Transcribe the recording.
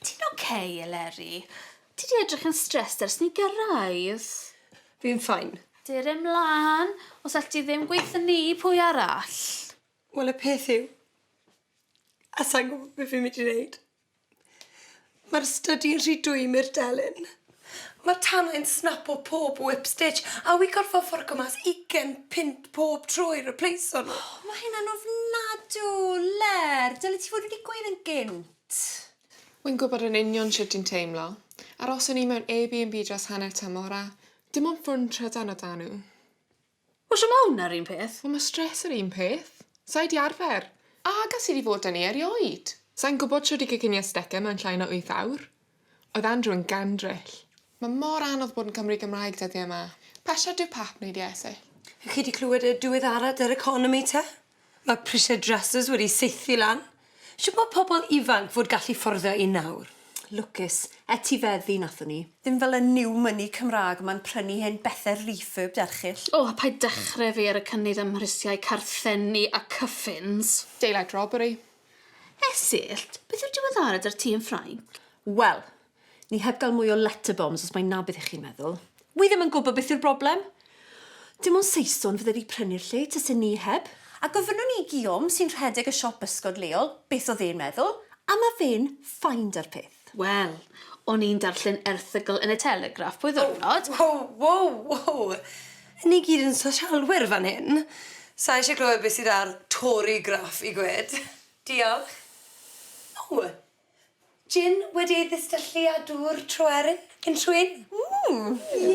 Ti'n ok, Eleri? Ti 'di edrych yn stressed ers ni gyrraedd. Fi'n fine. Dur e mlan, os all ti ddim gweitho ni, pwy arall? Wel y peth yw, a sai'n gwybod beth fi'n mynd i wneud. Mae'r stydi'n rhy dwym i'r delyn. Mae'r tanau'n snapo pob whip stitch a wi gorfod fforco mas ugen punt pob tro i repleiso nhw. O, mae hynna'n ofnadw! Ler, dylet ti fod wedi gweud yn gynt. Wi'n gwybod yn union shwt ti'n teimlo. Aroswn i mewn Airbnb dros hanner tymor a dim ond ffwrn trydan o 'da nhw. Mae Shimon ar un peth. Wel, mae stress yr un peth. Sa i 'di arfer. A gas i 'di fod yn i erioed. Sa i'n gwybod shwt i goginio stecen mewn llai na wyth awr. Oedd Andrew yn gandryll. Mae mor anodd bod yn Cymry Gymraeg dyddiau 'ma. Pasio dy Pap neu dy Ese. Chi 'di clywed y diweddarad yr economi te? Mae prisiau dressers wedi saethu lan. Shwt mae pobl ifanc fod gallu fforddio un nawr? Lwcus. Etifeddu nathon ni. Ddim fel y new money Cymraeg ma'n prynu hen bethe refurbed erchyll. O, paid dechre fi ar y cynnydd ym mhrisiau carthenni a cyffins. Daylight robbery. Esyllt, beth yw'r diweddarad ar ti yn Ffrainc? Wel, Ni heb gael mwy o letter bombs os mai 'na beth i chi meddwl. Wi ddim yn gwybod beth yw'r broblem. Dim ond Saeson fydde fi prynu'r lle tase ni heb. A gofynnwn i Guillaume sy'n rhedeg y siop bysgod leol beth oedd e'n meddwl, a ma' fe'n fine 'da'r peth. Wel, o'n i'n darllen erthygl yn y Telegraph pob ddiwrnod. O! Wow! Wow! Wow! Ni gyd yn sosialwyr fan hyn. Sa i eisiau clywed beth sydd ar Torygraph i gwed. Diolch. O! Jin wedi ei ddistyllu â dŵr troerin cyn trwyn. Ww! Ie!